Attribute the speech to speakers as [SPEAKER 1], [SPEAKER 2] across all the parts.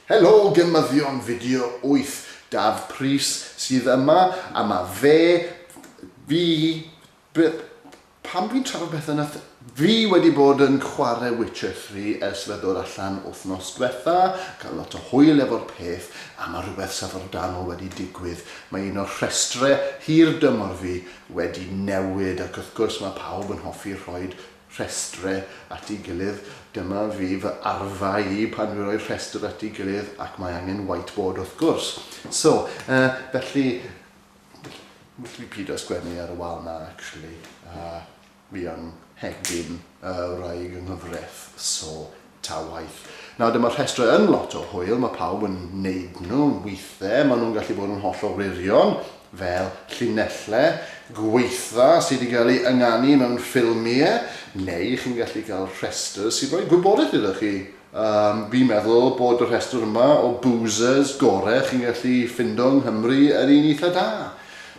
[SPEAKER 1] Helo gymyddion fideo 8, Daf Prys sydd yma a ma fe, fi, be, pam fi'n trafod pethau nath, fi wedi bod yn chwarae Witcher 3 ers fe ddod allan wythnos diwetha, cael lot o hwyl efo'r peth a ma rhywbeth syfrdanol wedi digwydd, mae un o'r rhestre hir dymor fi wedi newid ac wrth gwrs mae pawb yn hoffi rhoi rhestrau at ei gilydd, dyma fi fy arfa i pan dwi'n rhoi rhestr at ei gilydd ac mae angen whiteboard wrth gwrs. So, uh, felly, felly pido sgwennu ar y wal na actually. Uh, Fi yn hegin y wraig yng nghyfreth, so ta waeth. Nawr dyma'r rhestrau yn lot o hwyl, mae pawb yn neud nhw, withe maen nhw'n gallu bod yn hollol wirion, fel llinelle gwaetha sy wedi cael ei ynganu mewn ffilmie, neu chi'n gallu cael rhestr sy'n rhoi gwybodaeth iddo chi. Yym, fi'n meddwl bod y rhestr yma o boozers gore chi'n gallu ffindo yng Nghymru yr un eitha da.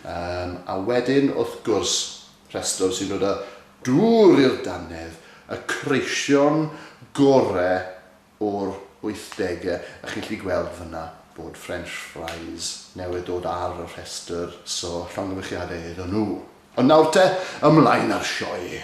[SPEAKER 1] Yym, a wedyn, wrth gwrs, Rhestr sy'n dod â dŵr i'r dannedd, y creision gore o'r wythdegau, a chi'n gallu gweld fan'na bod French Fries newydd dod ar y rhestr, so llongyfarchiadau iddyn nhw. Ond nawr te, ymlaen â'r sioe.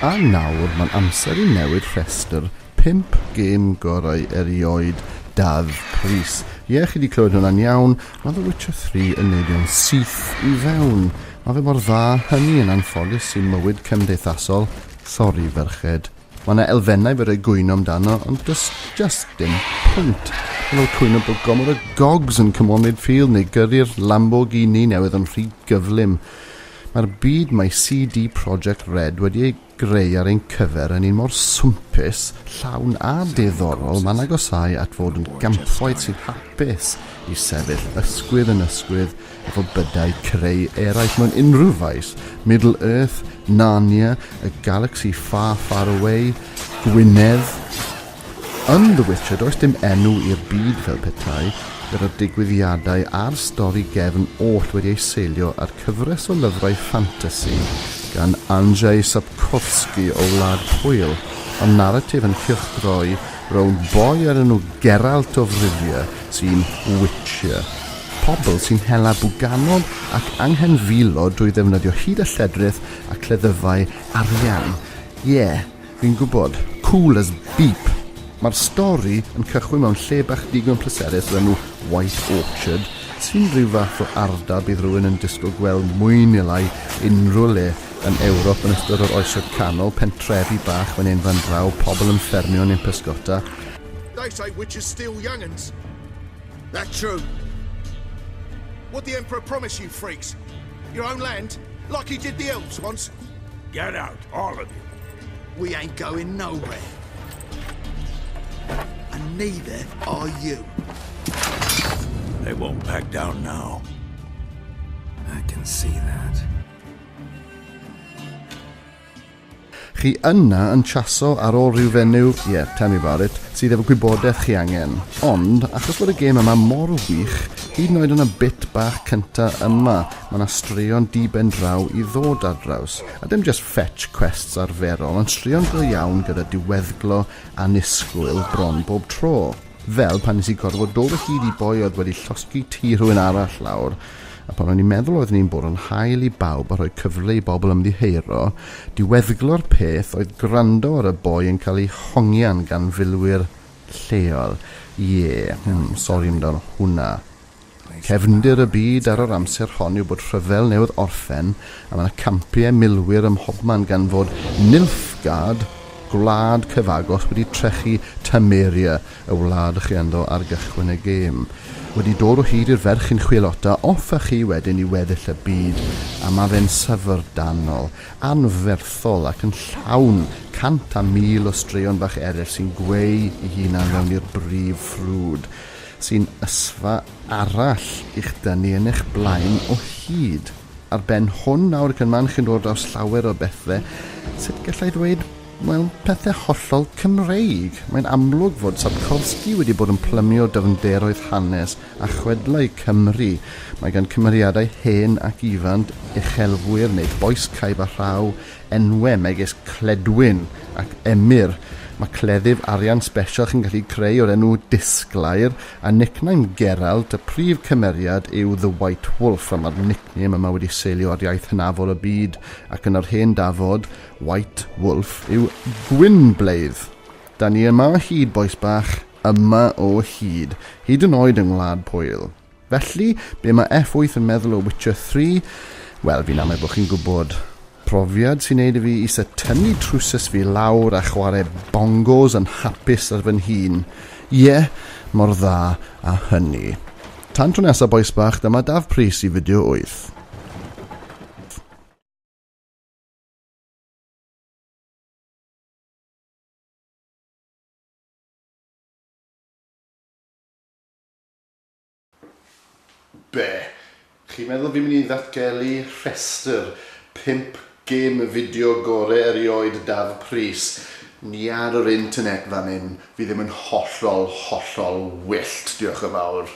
[SPEAKER 1] A nawr mae'n amser i newid rhestr pump gêm gorau erioed Dafydd Prys. Ie, chi 'di clywed hwnna'n iawn, mae The Witcher 3 yn neidio'n syth i fewn. Mae fe mor dda hynny yn anffodus i mywyd cymdeithasol, sori ferched. Mae 'na elfennau fedrai gwyno amdano ond does just dim pwynt. Mae fel cwyno bod gormod o gogs yn cymryd field neu gyrru'r Lamborghini newydd yn rhy gyflym. Mae'r byd mae CD Projekt Red wedi ei greu ar ein cyfer yn un mor swmpus, llawn a diddorol, mae'n agosáu at fod yn gampwaith sy'n hapus i sefyll ysgwydd yn ysgwydd efo bydau creu eraill mewn unrhyw faes, Middle Earth, Narnia, A Galaxy Far Far Away, Gwynedd, Yn The Witcher does dim enw i'r byd fel petai yr y digwyddiadau a'r stori gefn oll wedi eu seilio ar cyfres o lyfrau ffantasi gan Andrzej Sapkowski o Wlad Pwyl, ma'r naratif yn cylchdroi rownd boi o'r enw Geralt of Rivia sy'n witcher pobl sy'n hela bwganod ac anghenfilo drwy ddefnyddio hud a lledrith a cleddyfau arian. Ie. Fi'n gwybod. Cool as beep! Mae'r stori yn cychwyn mewn lle bach digon pleserus o'r enw White Orchard, sy'n rhyw fath o ardal bydd rhywun yn disgwyl gweld mwy neu lai unrhyw le yn Ewrop yn ystod yr Oesoedd Canol, pentrefi bach fan hyn fan draw, pobl yn ffermio neu'n pysgota. They say
[SPEAKER 2] witches steal young'uns. That's true. What'd the Emperor promise you freaks? Your own land? Like he did the elves once? Get
[SPEAKER 3] out, all
[SPEAKER 2] of you. We ain't going nowhere. And neither are you.
[SPEAKER 3] They won't back down now.
[SPEAKER 2] I can see that.
[SPEAKER 1] Chi yna yn chaso ar ôl rhyw fenyw, ie, yeah, tell me about it, sydd efo gwybodaeth chi angen. Ond, achos bod y gêm yma mor wych, hyd yn oed yn y bit bach cynta yma, Mae 'na straeon diben draw i ddod ar draws, a dim jyst fetch quests arferol, ond straeon go iawn gyda diweddglo annisgwyl bron bob tro. Fel pan nes i gorfod dod o hyd i boi oedd wedi llosgi tŷ rhywun arall lawr, a pan o'n i'n meddwl oeddwn i'n bwrw 'n hael i bawb a rhoi cyfle i bobl ymddiheuro, diweddglo'r peth oedd gwrando ar y boi yn cael ei hongian gan filwyr lleol. Ie, hmm, sori amdano hwnna. Cefndir y byd ar yr amser hon yw bod rhyfel newydd orffen a mae yna campiau milwyr ym mhobman gan fod Nilfgaard, gwlad cyfagos, wedi trechu Temeria, y wlad chi ynddo ar gychwyn y gêm. Wedi dod o hyd i'r ferch chi'n chwilota off â chi wedyn i weddill y byd a mae fe'n syfrdanol, anferthol ac yn llawn cant a mil o straeon bach eraill sy'n gweu i hunan fewn i'r brif ffrwd. sy'n ysfa arall i'ch dynnu yn eich blaen o hyd. Ar ben hwn nawr, ac yn man chi'n dod draws llawer o bethau, sut gallai ddweud, wel, pethau hollol Cymreig. Mae'n amlwg fod Sapkowski wedi bod yn plymio dyfnderoedd hanes a chwedlau Cymru. Mae gan cymeriadau hen ac ifant, uchelwyr neu bois caib a rhaw, enwau megis Cledwyn ac Emyr. Mae cleddyf arian sbesial chi'n gallu creu o'r enw Disglair, a nickname Gerallt, y prif cymeriad yw The White Wolf, a mae'r nickname yma wedi seilio ar iaith hynafol y byd, ac yn yr hen dafod, White Wolf yw Gwynbleidd. Da ni yma o hyd, bois bach, yma o hyd. Hyd yn oed yng Ngwlad Pwyl. Felly, be mae F8 yn meddwl o Witcher 3? Wel, fi'n amau bod chi'n gwybod. Profiad sy'n neud i fi isa tynnu trwsus fi lawr a chwarae bongos yn hapus ar fy nhîn. Ie, mor dda a hynny. Tan tro nesa bois bach, dyma Daf Prys i fideo 8. Be? Chi'n meddwl fi'n mynd i ddatgelu rhestr pump gêm fideo gore erioed Daf Prys? Ni ar yr internet fan hyn, fi ddim yn hollol, hollol wyllt, diolch yn fawr.